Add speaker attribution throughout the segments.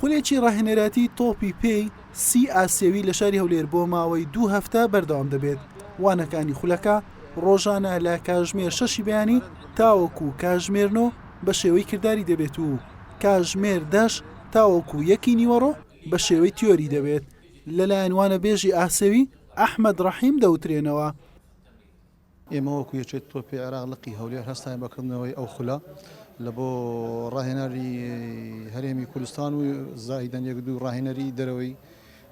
Speaker 1: خولێکی ڕاهێنەرایەتی تۆپی پێی سی ئاسیەوی لە شاری هەولێر بۆ ماوەی دوو هەفتە بەردەوام دەبێت وانەکانی خولەکە ڕۆژانە لە کاژمێر شەشی بەیانی تاوەکو و کاژمێرنۆ بە شێوەی کردداری دەبێت و کاژمێر دەش تاوەکو و یەکی نیوەڕۆ بە شێوەی تیۆری دەبێت لەلایەن وانە بێژی ئاسەوی ئەحمد ڕەحیم دەوترێنەوە
Speaker 2: ئێمە وەکو یەکێتی تۆپی عێراق لقی هەولێر هەستاین بە کردنەوەی ئەو خولە لە بۆ ڕاهێنەری هەرێمی کوردستان و زاهیدەن یەک دوو ڕاهێنەری دەرەوەی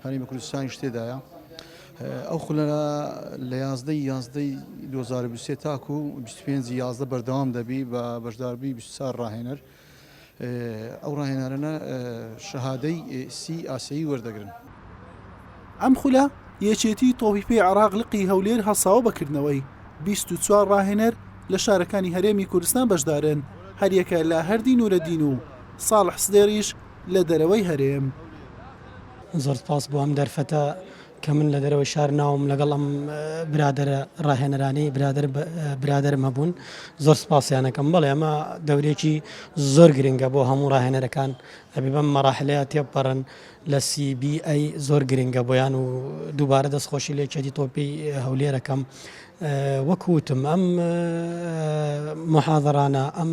Speaker 2: هەرێمی کوردستانیش تێدایە ئەو خولە لە یازدە یازدەی 2023 تاکو 25 یازدە بەردەوام دەبی بە بەشداربی 24 ڕاهێنەر ئەو ڕاهێنانەنە شەهادەی سی ئاسەیی وەردەگرن.
Speaker 1: ئەم خولە یەکێتی تۆپی پێی عێراق لقی هەولێر هەڵساوە بە کردنەوەی بیست و چوار ڕاهێنەر لە شارەکانی هەرێمی کوردستان بەشدارن هەریەکە لە هەردی نورەدین و ساڵح سدێڕیش لە دەرەوەی هەرێم.
Speaker 3: زۆر سپاس بۆ ئەم دەرفەتە کە من لە دەرەوەی شار ناوم لەگەڵ ئەم برادەرە ڕاهێنەرانەی برادەر برادەرم هەبوون زۆر سپاسیانەکەم بەڵێ ئەمە دەورێکی زۆر گرنگە بۆ هەموو ڕاهێنەرەکان ئەبی بەم مەراحلەیە تێپەڕن لە سیبی ئەی زۆر گرنگە بۆیان و دووبارە دەستخۆشی لێ چێتی تۆپی هەولێرەکەم وەکوتم ئەم محاضرانە ئەم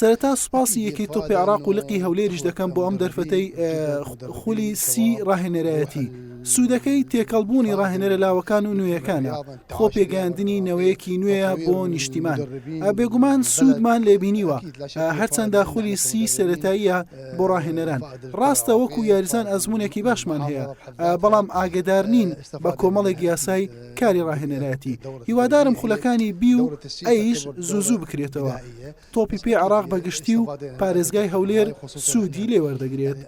Speaker 4: سەرەتا سوپاسی یەکەی
Speaker 1: تۆپی عێراق و لقی هەولێریش دەکەم بۆ ئەم دەرفەتەی خولی سی ڕاهێنەرایەتی. سوودەکەی تێکەڵبوونی ڕاهێنەرە لاوەکان و نوێیەکانە خۆ پێگەیاندنی نەوەیەکی نوێیە بۆ نیشتیمان بێگومان سوودمان لێبینیوە هەرچەندە خولی سی سەتاییە بۆ ڕاهێنەران ڕاستە وەکو یاریزان ئەزمونێکی باشمان هەیە بەڵام ئاگدار نین بە کۆمەڵێک یاسای کاری ڕاهێنەرایەتی هیوادارم خولەکانی بی و ئەیش زوو زوو بکرێتەوە تۆپی پێی عراق بەگشتی و پارێزگای هەولێر سوودی لێ وەردەگرێت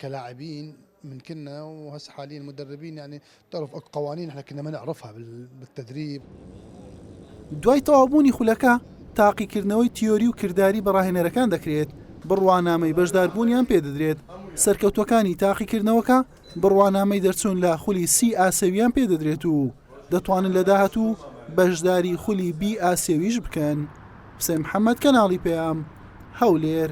Speaker 4: کەلاعبین ممکنە و هەس حالی مدربین ینی طرف قوانین حکردنەمە عرفها بالتدريب
Speaker 1: دوای تەوابوونی خولەکە تاقیکردنەوەی تیۆری و کردداری بەڕاهێنەرەکان دەکرێت بڕوانامەی بەشداربوونیان پێدەدرێت سەرکەوتوەکانی تاقیکردنەوەکە بڕوانامەی دەرچوون لە خولی سی ئاسیویان پێدەدرێت و دەتوانن لە داهاتوو بەشداری خولی بی ئاسیویش بکەن. حوسێن محەمەد، کەناڵی پەیام، هەولێر.